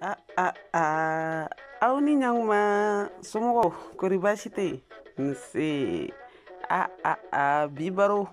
ah ah ah aw ni ɲakuma somɔgɔw kori baasi tɛ yen nse ah ah ah bi baro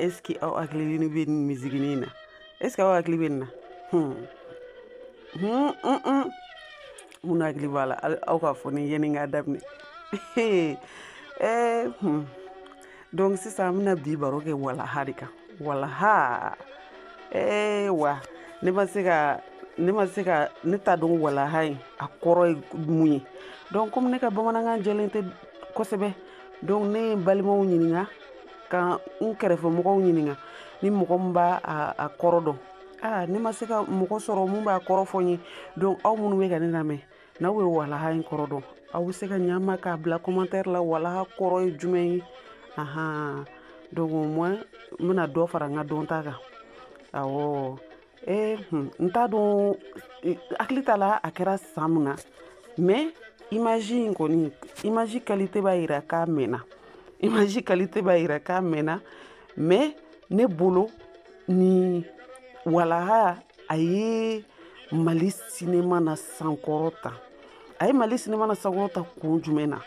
eski aw hakili bɛ nin misigini in na eski aw hakili bɛ nin na hmm. Hmm, hmm, hmm. min hakili b'a la aw k'a fɔ n ye yani k'a daminɛ ee eh, hmm. donc sisan an bɛna bi baro kɛ walaha de kan walaha ee wa ne ma se ka ne ma se ka ne t'a dɔn walaha in a kɔrɔ ye mun ye donc komi ne ka bamanankan jɛlen tɛ kosɛbɛ donc ne ye n balimaw ɲininka ka n kɛrɛfɛmɔgɔw ɲininka ni mɔgɔ min b'a a kɔrɔ dɔn aa ne ma se ka mɔgɔ sɔrɔ min b'a kɔrɔ fɔ n ye donc aw minnu bɛ ka ne lamɛn n'aw ye walaha in kɔrɔ dɔn aw bɛ se ka ɲa n ma k'a bila commentaire la walaha kɔrɔ ye jumɛn ye ahan donc au moins n bɛna dɔ fara n ka dɔnta kan awɔ ee hmm, n t'a dɔn hakili t'a la a kɛra san min na mais image in kɔni image qualité b'a yira k'a mɛnna image qualité b'a yira k'a mɛnna mais ne bolo nin walaha a ye mali sinema nasankɔrɔta a ye mali sinema nasankɔrɔta kun jumɛn na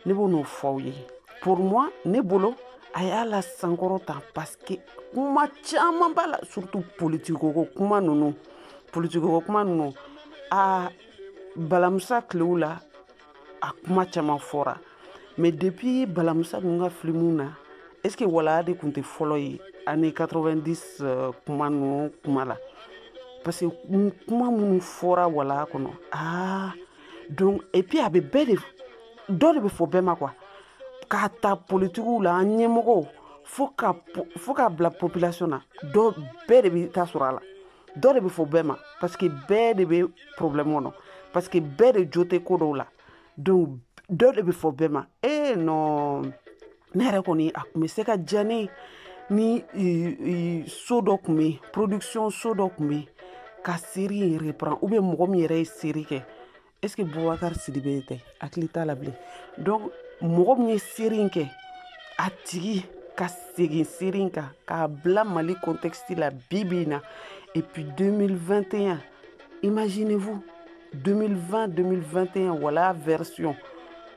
ne bɛ n'o fɔ aw ye pour moi ne bolo a y'a lasankɔrɔta parce que kuma caman b'a la surtout politiki ko kuma ninnu politiki ko kuma ninnu a balamusa tilew la a kuma caman fɔra mais depuis balamusa ninnu ka filimu na est ce que walaha de tun tɛ fɔlɔ ye année 90 euh, kuma ninnu kuma la parce que kuma minnu fɔra walaha kɔnɔ aa donc et puis a bɛ bɛɛ de dɔ de bɛ fɔ bɛɛ ma quoi k'a ta politikiw la an ɲɛmɔgɔw fo ka fo ka bila population na dɔ bɛɛ de bɛ ta sɔrɔ a la dɔ de bɛ fɔ bɛɛ ma parce que bɛɛ de bɛ problème kɔnɔ parce que bɛɛ de jo tɛ ko dɔw la donc dɔ de bɛ fɔ bɛɛ ma ee non ne yɛrɛ kɔni a tun bɛ se ka diya ne ni so dɔ tun bɛ yen production so dɔ tun bɛ yen ka seri in reprend ou bien mɔgɔ min yɛrɛ ye seri kɛ est ce que bubakari sidibe tɛ hakili t'a la bilen donc mɔgɔ min ye seri in kɛ a tigi ka segin seri in kan k'a bila mali contexte la bi bi in na et puis 2021 imaginez vous 2020 2021 walaha version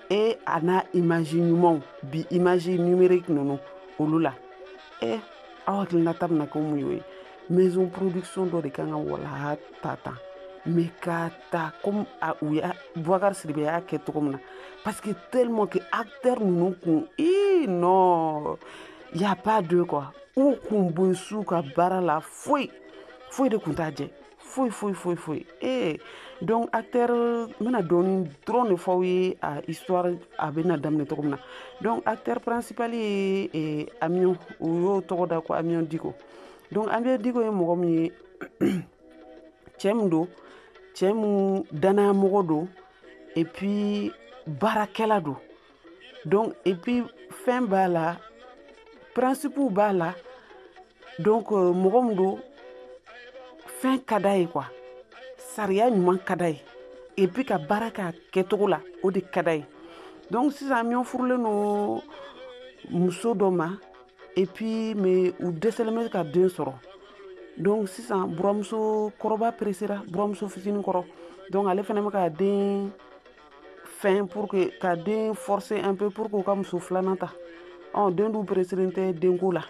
e a n'a image ɲumanw bi image numérique ninnu olu la e eh, aw hakilinata bɛna kɛ mun y'o ye maison production dɔ de kan ka walaha ta tan mais ka ta comme a u y'a Boubacar Sidibe y'a kɛ cogo min na parce que tellement que acteur ninnu kun ii non y a pas deux quoi u kun bɛ s'u ka baara la foyi foyi de kun t'a jɛ foyi foyi foyi foyi ee donc acteur n bɛna dɔɔni dɔrɔn de f'aw ye a histoire a bɛna daminɛ cogo min na donc acteur principal ye eh, Amion u y'o tɔgɔ da ko Amion Diko donc Amion Diko ye mɔgɔ min ye cɛ min don cɛ min danayamɔgɔ don et puis baarakɛla don donc et puis fɛn b'a la principew b'a la donc euh, mɔgɔ min don fɛn ka d'a ye quoi sariya ɲuman ka d'a ye et puis ka baara k'a kɛcogo la o de ka d'a ye donc sisan Amion furulen don muso dɔ ma et puis mais u dɛsɛlen bɛ ka den sɔrɔ donc sisan buramuso kɔrɔba peresera buramuso fitinin kɔrɔ donc ale fana bɛ ka den fɛn pour que ka den forcer un peu pour que u ka muso filanan ta ɔ den dun pereselen tɛ denko la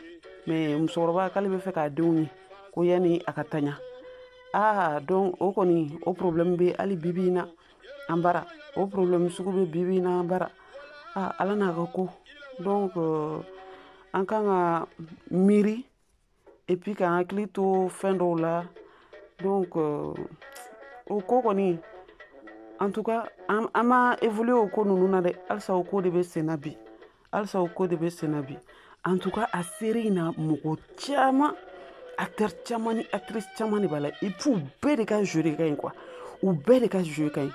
mais musokɔrɔba k'ale bɛ fɛ k'a denw ye ko yanni a ka taɲa aa donc o kɔni o problème bɛ hali bibi in na an bara o problème sugu bɛ bibi in na an bara ah, Ala n'a ka ko donc euh, an kan ka miiri et puis k'an hakili to fɛn dɔw la donc euh, o ko kɔni en tout cas an ma évoluer o ko ninnu na dɛ halisa o ko de bɛ sen na bi halisa o ko de bɛ senna bi en tout cas a série in na mɔgɔ caman acteur caman ni actrice caman de b'a la et puis u bɛɛ de ka jeu de ka ɲi quoi u bɛɛ de ka jeu ka ɲi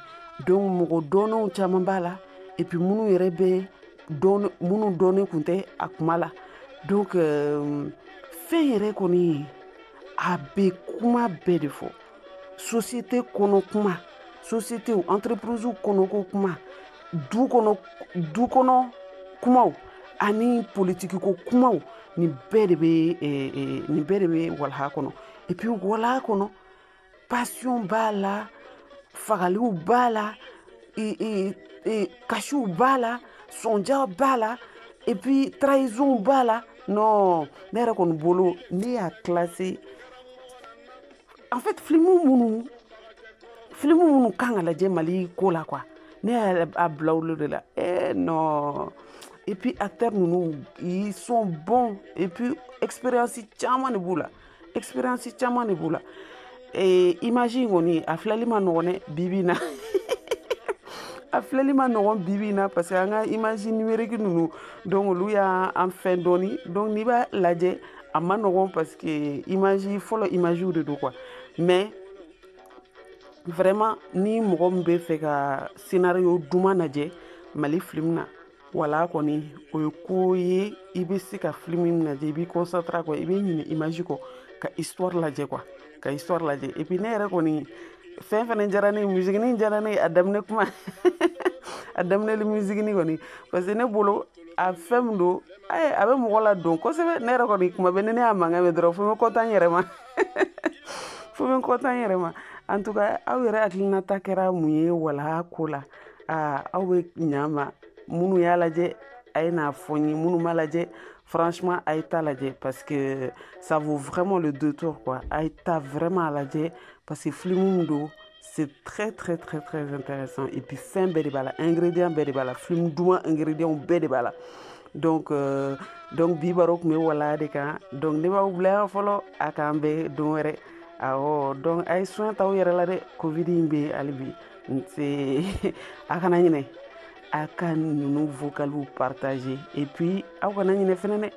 donc mɔgɔ dɔnnenw caman b'a la et puis minnu yɛrɛ bɛ dɔn minnu dɔnnen kun tɛ a kuma la donc euh, fɛn yɛrɛ kɔni a bɛ kuma bɛɛ de fɔ société kɔnɔ kuma sociétéw entreprisew kɔnɔko kuma du kɔnɔ du kɔnɔ kumaw ani politique ko kumaw nin bɛɛ de bɛ eh, eh, nin bɛɛ de bɛ Walaha kɔnɔ et puis Walaha kɔnɔ passion b'a la fagaliw b'a la kasiw b'a la sonya b'a la et puis trahisonw b'a la non ne yɛrɛ kɔni bolo ne y'a classer en fait film minnu film minnu kan ka lajɛ Mali ko la quoi ne y'a bila olu de la eh non et puis acteurs ninnu ils sont bons et puis expérience caman de b'u la expérience caman de b'u la eh, image in kɔni a filɛli ma nɔgɔn dɛ bibi in na a filɛli ma nɔgɔn bibi in na parce que an ka image numérique ninnu donc olu y'an fɛn dɔɔni donc n'i b'a lajɛ a man nɔgɔn parce que image fɔlɔ imagew de don quoi mais vraiment ni mɔgɔ min b'a fɛ ka scénario duman lajɛ mali film na walaha kɔni o ye ko ye i bɛ se ka film min lajɛ i b'i concentrer quoi i bɛ ɲinɛ image kɔ ka histoire lajɛ quoi ka histoire lajɛ et puis ne yɛrɛ kɔni fɛn fɛnɛ diyara ne ye musikini diyara ne ye a daminɛ kuma a daminɛli musikini kɔni parce que ne bolo a fɛn min don ayi a bɛ mɔgɔ la don kosɛbɛ ne yɛrɛ kɔni kuma bɛɛ ni ne y'a mankan mɛn dɔrɔn fo n bɛ content n yɛrɛ ma fo n bɛ content n yɛrɛ ma en tout cas aw yɛrɛ hakilinata kɛra mun ye walaha ko la aa aw bɛ ɲa ma minnu y'a lajɛ a ye n'a fɔ n ye minnu m'a lajɛ franchement a ye t'a lajɛ parce que ça vaut vraiment le détour quoi a ye taa vraiment a lajɛ parce que filimu min don c'est très très très très intéressant et puis fɛn bɛɛ de b'a la ingrédient bɛɛ de b'a la film duman ingrédient bɛɛ de b'a la donc euh, donc bi baro tun bɛ walaha de kan donc ne b'aw bila yan fɔlɔ a k'an bɛn don wɛrɛ awɔ donc a ye soin t'aw yɛrɛ la dɛ covid in bɛ hali bi a kana ɲinɛ a ka ninnu vocaliw partager et puis aw kana ɲinɛ fɛnɛ dɛ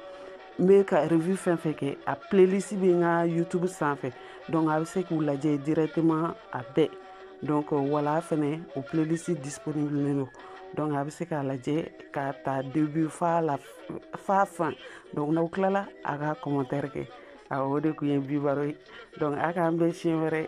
n bɛ ka review fɛn fɛn kɛ a playlist bɛ n ka youtube sanfɛ donc a bɛ se k'u lajɛ directement a bɛɛ donc walaha fɛnɛ o playlist disponible don donc a bɛ se k'a lajɛ k'a ta début f'a fin donc n'aw tilala a ka commentaire kɛ awɔ o de tun ye bi baro ye donc a k'an bɛn siɲɛ wɛrɛ